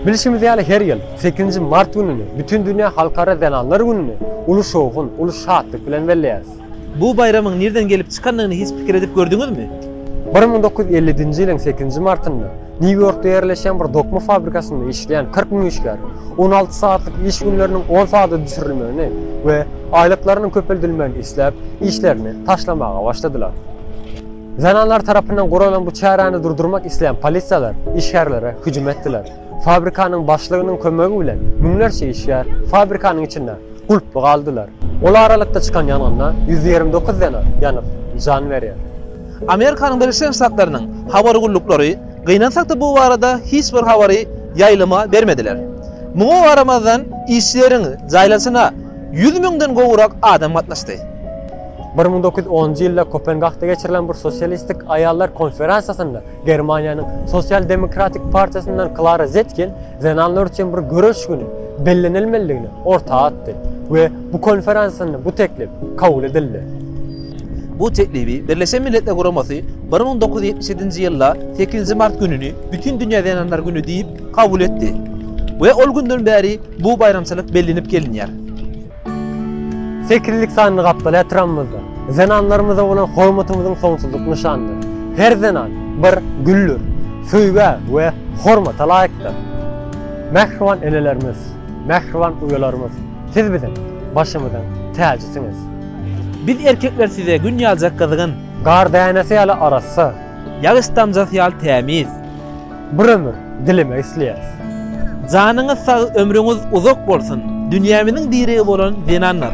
Bilşimiz ýaly, her ýyl sekizinji mart gününi, Bütindünýä halkara zenanlar gününi uly şowhun, uly şatlyk bilen belleýäris. Bu baýramyň nirden gelip çykandygyny hiç pikir edip gördüňizmi? Bir müň dokuz ýüz elli-nji ýylyň sekizinji martynda Nýu-Ýorkda ýerleşýän bir dokma fabrikasynda işleýän kyrk müň işgär on alty sagatlyk iş günleriniň on sagada düşürilmegini we aýlyklarynyň köpeldilmegini isläp, işlerini taşlamaga başladylar. Zenanlar tarapyndan guralan bu çäräni durdurmak isleýän polisiýalar işgärlere hüjüm etdiler. Fabrikanyň başlygynyň kömegi bilen müňlerçe işgär fabrikanyň içinde gulply galdylar. Ol aralykda çykan ýangynda ýüz ýigrimi dokuz zenan ýanyp jan berýär. Amerikanyň Birleşen Ştatlarynyň habar gulluklary, gynansakda bu barada hiç bir habary ýaýlyma bermediler. Muňa garamazdan işleriň jaýlanyşyna ýüz müňden gowrak adam gatnaşdy. Bir müň dokuz ýüz onunjy ýylda Kopengagda geçirilen bir sosialistik aýallar konferensiýasynda Germaniýanyň Sosial-demokratik partiýasyndan Klara Zetkin zenanlar üçin bir göreş güni bellenilmelidigini orta atdy we bu konferensiýasynda bu teklip kabul edildi. Bu teklibi Birleşen Milletler Guramasy bir müň dokuz ýüz ýetmiş ýedinji ýylda sekizinji mart gününi Bütindünýä zenanlar güni diýip kabul etdi we ol günden bäri bu baýramçylyk bellenip gelinýär. Sekizlik sanly gapdal-ä tyramyzda, zenanlarymyza bolan hormatymyzyň soňsuzlyk nyşanydyr. Her zenan, bir güldür, söýgä we hormata laýykdyr. Mähriban enelerimiz, mähriban uýalarymyz, siz biziň başymyzyň täjisiňiz. Biz erkekler size gün ýaljak gyzgyn. Gar dänesi ýaly arassa. Ýagyş damjasy ýaly tämiz. Bir ömür dilemek isleýäs. Janyňyz sag ömrüňiz uzak bolsun dünýämiziň diregi bolan zenanlar.